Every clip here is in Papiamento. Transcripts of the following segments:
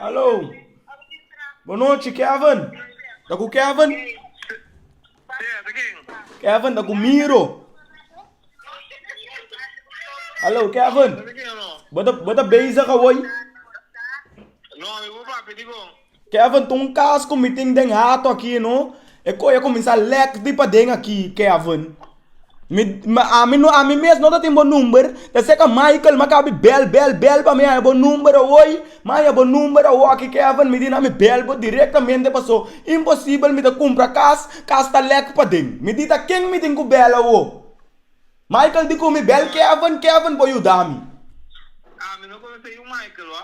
Aló, bon nochi, Kevin? Ta ku Kevin? Kevin ta ku Miro. Aló, Kevin, bo ta bezig awoy? Kevin, Ta un cas cu mi tin den hato aki no, e coye a cuminsa lek di paden aki Kevin. Mi, mi, ami no, ami mes no ta tin bo number, ta seca Michael ma cabi bel, bel, bel pa mi haya bo number awoy, ma haya bo number awoki Kevin, mi di na mi bel bo directamente paso imposibel mi ta cumpra cas, cas ta lek paden. Mi di ta ken mi tin cu bel awo? Michael di cu mi bel Kevin, Kevin por yuda mi. Ami no conoce yu Michael, wa.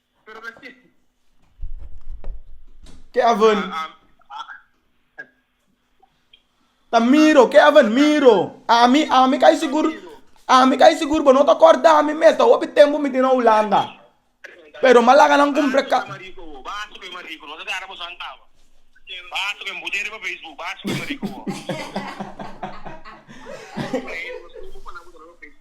Ke aven ta miro, ke aven miro. Ami, ami ka sigur, ami ka sigur bo no ta kordami mes, ta hopi tempu mi tin na Hulanda. Pero m'a laga nan kumpra ka.